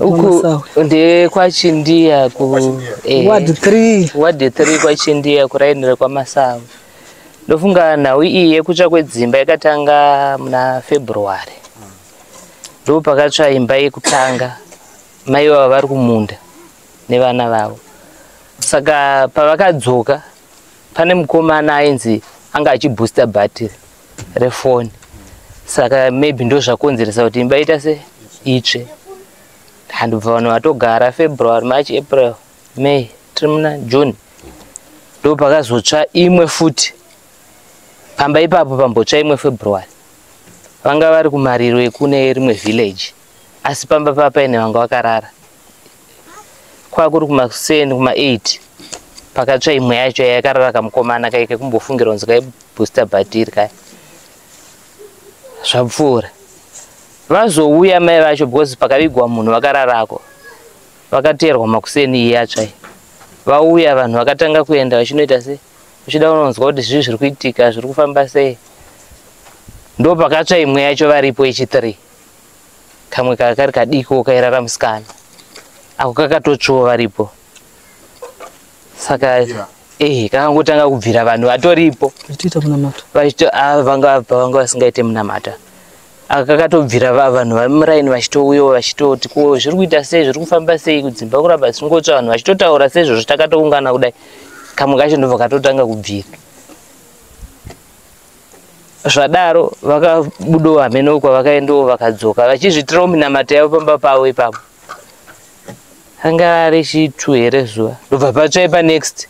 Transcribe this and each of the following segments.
uku ndekwachindiya kuward eh, ward three kwachindiya kurainira kwamasawi ndofunga nhau iyi yekutsva kwedzimba yakatanga muna february ndo pakatsva imba yekutanga mai vavo vari kumunda nevana vavo saka pavakadzoka pane mukomana ainzi anga achibooster battery refoni saka maybe ndozvakonzeresa kuti imba ita se itsve handibva vanhu vatogara february march april may tiri muna june ndo pakazotsva imwe futi pamba ipapo pambotsva imwe february vanga vari kumariro ekune rimwe village asi pamba papa ine vanga vakarara kwakuri kumakuseni kuma 8 pakatsva imwe yacho yakarara kamukomana kai kekumbofungira kunzi kaibooster bhatiri kai zvapfuura vazouya mai vacho because pakavigwa munhu vakararako vakateerwa makuseni iyi yatsva iyi vauya vanhu vakatanga kuenda vachinoita sei uchida unonzwa kuti zvii zviri kuitika zviri kufamba sei ndopakatsva imwe yacho varipo yechi 3 kamwe kaka kari kadiko kairara musikana ako kakatotsvoo varipo saka eh kakangotanga kubvira vanhu vatoripo Vachitoita munamato. vachito ah, vanga vanga vasingaite munamata aka kakatobvira va- vanhu vamuraini vachitouyawo vachitoti ko zviri kuita sei zviri kufamba sei kudzimba kuramba zvisingotsva vanhu vachitotaura seizvozvo takatoungana kudai kamwe kacho ndobva katotanga kubvira zvadaro vakabudawo hameno uko vakaendawo vakadzoka vachizvitirawo minamato yavo pamba pavo ipapo anga ari chitu here zuva ndobva patsvaipa next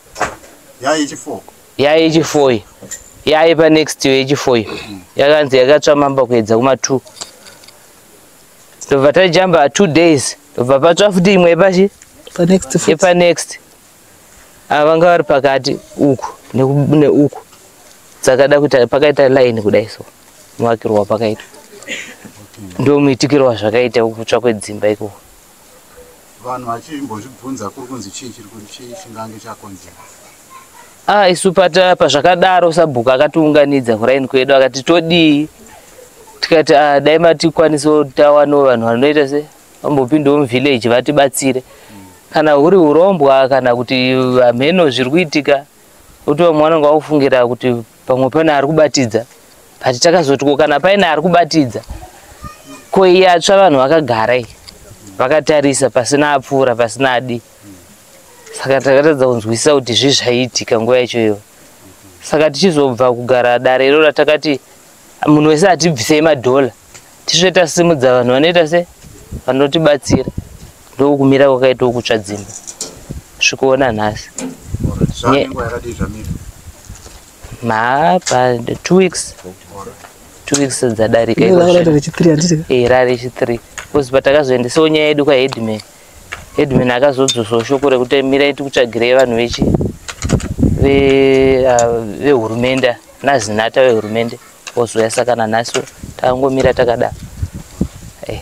yaive ichifour yaive ichifour yaye panext yo yechifoyo yakanzi yakatsva mamba kuedza kuma2 tobva tajamba two days tobva patsva futi imwe yepachi yepanext ava vanga vari pakati uku neuku dzakada kuita pakaita line kudai so muvakirwa wapakaita ndo muitikiro wazvakaita kutsva kwedzimba ikoko vanhu vachimbozvibvunza kuri kunzi chii chiri kuti chii chingange chakonzera ah isu pazvakadaro sabhuku akatiunganidza kuraini kwedu akati todii tikati ah, dai matikwanisawo tawanawo vanhu vanoita se vambopindawo muvillage vatibatsire kana huri urombwa kana kuti hameno zviri kuitika utova mwana wanga wakufungira kuti pamwe pane ari kubatidza but takazotiko kana paine ari kubatidza ko iye atsva vanhu vakagara iyi vakatarisa pasina apfuura pasina adi saka takatadza kunzwisisa kuti zvi zvaiitika nguva yacho iyoyo saka tichizobva kugara dare iroro ratakati munhu wese atibvisei madhola tisve tasimudza vanhu vanoita se vanotibatsira ndokumira kwakaita ukutsva dzimba svikuona nhasi mapa two weeks two weeks dzadarika eh, rari chithree bcause patakazoendesawo nyaya yedu kwaheadman headman akazodzosawo shoko rekuti mirai tikutsvagirei vanhu vechi vehurumende ah, nazinata vehurumende ozouya saka nanhasi takangomira takada eh.